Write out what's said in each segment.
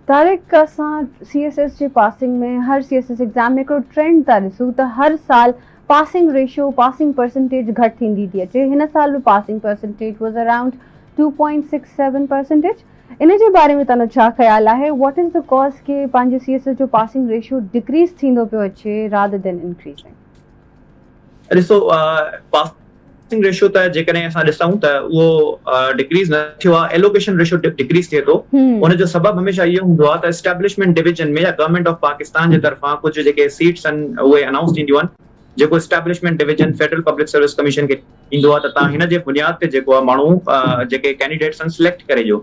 طارق اسان C S S جي passing ۾ هر سي ايس ايس ايگزام ۾ هڪڙو ٽرينڊ ٿا ڏسون ته هر سال پاسنگ ريشو پاسنگ پرسنٽيج گهٽ ٿيندي ٿي اچي هن سال به passing percentage was around two point six seven percentage ان جي باري ۾ تنهنجو ڇا خيال آهي واٽ از دي ڪاز ڪي پنهنجي سي ايس ايس جو پاسنگ ريشو ڊڪريز ٿيندو پيو اچي رادر دين انڪريزنگ. ڏسو پاسنگ ريشو ته جيڪڏهن اسان ڏسون ته اهو ڊڪريز نه ٿيو آهي ايلوڪيشن ريشو ڊڪريز ٿئي ٿو ان جو سبب هميشه اهو هوندو آهي ته اسٽيبلشمينٽ ڊويزن ۾ يا گورنمينٽ آف پاڪستان جي طرفان ڪجهه جيڪي سيٽس آهن اهي انائونس ٿينديون آهن جيڪو establishment division federal public service commission کي ڏيندو آهي ته تان هن جي بنياد تي جيڪو آهي ماڻهو جيڪي ڪينڊيڊيٽس آهن سليڪٽ ڪري ڏيو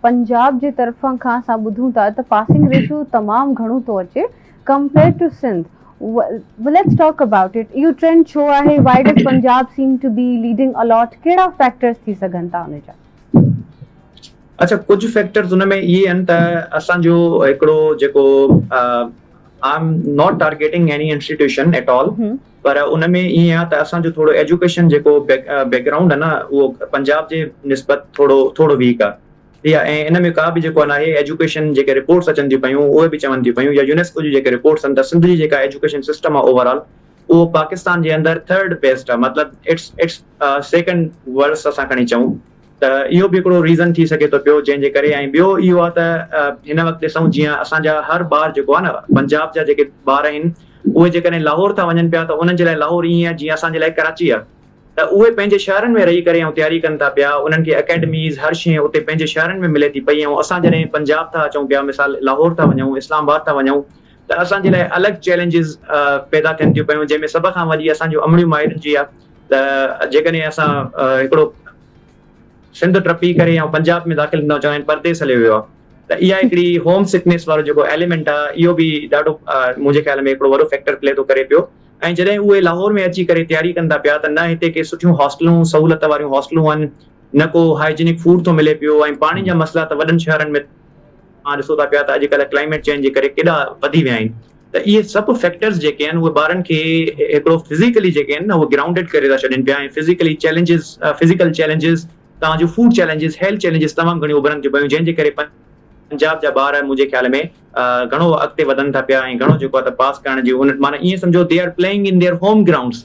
پنجاب جي طرفان کان اسان ٻڌون ٿا ته پاسنگ ريشو تمام گهڻو ٿو اچي compared to Sindh well let's talk about it اهو ٽرينڊ ڇو آهي why does Punjab seem to be leading a lot ڪهڙا فيڪٽرز ٿي سگهن ٿا ان جا. اڇا ڪجهه فيڪٽرز ان ۾ اهي آهن ته اسان جو هڪڙو جيڪو I am not targeting any institution at all. پر ان ۾ ائين آ ته اسان جو ٿورو ايجوڪيشن جيڪو بيڪ گرائونڊ آ نه اهو پنجاب جي نسبت ٿورو ٿورو ويڪ آ ٺيڪ آ ۽ ان ۾ ڪا به جيڪو ناهي ايجوڪيشن جيڪي رپورٽس اچن ٿيون پيون اهي به چون ٿيون پيون يا يونيسڪو جون جيڪي رپورٽس آهن ته سنڌ جي جيڪا ايجوڪيشن سسٽم آ اوور آل اهو پاڪستان جي اندر ٿرڊ بيسٽ آ مطلب اٽس اٽس سيڪنڊ ورس اسان کڻي چئون ته اهو به هڪڙو ريزن ٿي سگهي ٿو پيو جنهن جي ڪري ۽ ٻيو اهو آ ته هن وقت ڏسون جيئن اسان جا هر ٻار جيڪو آ نه پنجاب جا جيڪي ٻار آهن اهي جيڪڏهن لاهور ٿا وڃن پيا ته انهن جي لاء لاهور ائين آ جيئن اسان جي لاء ڪراچي آ ته اهي پنهنجي شهرن ۾ رهي ڪري ۽ تياري ڪن ٿا پيا انهن کي اڪيڊميز هر شئي اتي پنهنجي شهرن ۾ ملي ٿي پئي ۽ اسان جڏهن پنجاب ٿا اچون پيا مثال لاهور ٿا وڃون اسلام آباد ٿا وڃون ته اسان جي لاء الڳ چئلينجز پيدا ٿين ٿيون پيون جنهن ۾ سڀ کان وڏي اسان جون امڙيون مائرن جي آ ته جيڪڏهن اسان هڪڙو سنڌ ٽپي ڪري يا پنجاب ۾ داخل ٿيندا چون پرديس هليو ويو آهي ته اها هڪڙي هوم سڪنيس وارو جيڪو ايليمينٽ آهي اهو به ڏاڍو منهنجي خيال ۾ هڪڙو وڏو فيڪٽر پلي ٿو ڪري پيو ۽ جڏهن اهي لاهور ۾ اچي ڪري تياري ڪن ٿا پيا ته نه هتي ڪي سٺيون هاسٽلون سهولت واريون هاسٽلون آهن نه ڪو هائجينڪ فوڊ ٿو ملي پيو ۽ پاڻي جا مسئلا ته وڏن شهرن ۾ اوهان ڏسو ٿا پيا ته اڄ ڪلهه ڪلائميٽ چينج جي ڪري ڪيڏا وڌي ويا آهن ته اهي سڀ فيڪٽرز جيڪي آهن اهي ٻارن کي هڪڙو فزيڪلي جيڪي آهن نه اهي گرائونڊيڊ ڪري ٿا ڇڏين پيا ۽ فزيڪلي چيلينجز فزيڪل چيلينجز توهان جون فوڊ چيلينجز هيلٿ چيلينجز تمام گهڻيون اڀرن ٿيون پيون جنهن جي ڪري پنجاب جا ٻار منهنجي خيال ۾ گهڻو اڳتي وڌن ٿا پيا ۽ گهڻو جيڪو آهي ته پاس ڪرڻ جي ان معنيٰ ائين سمجهو they are playing in their home grounds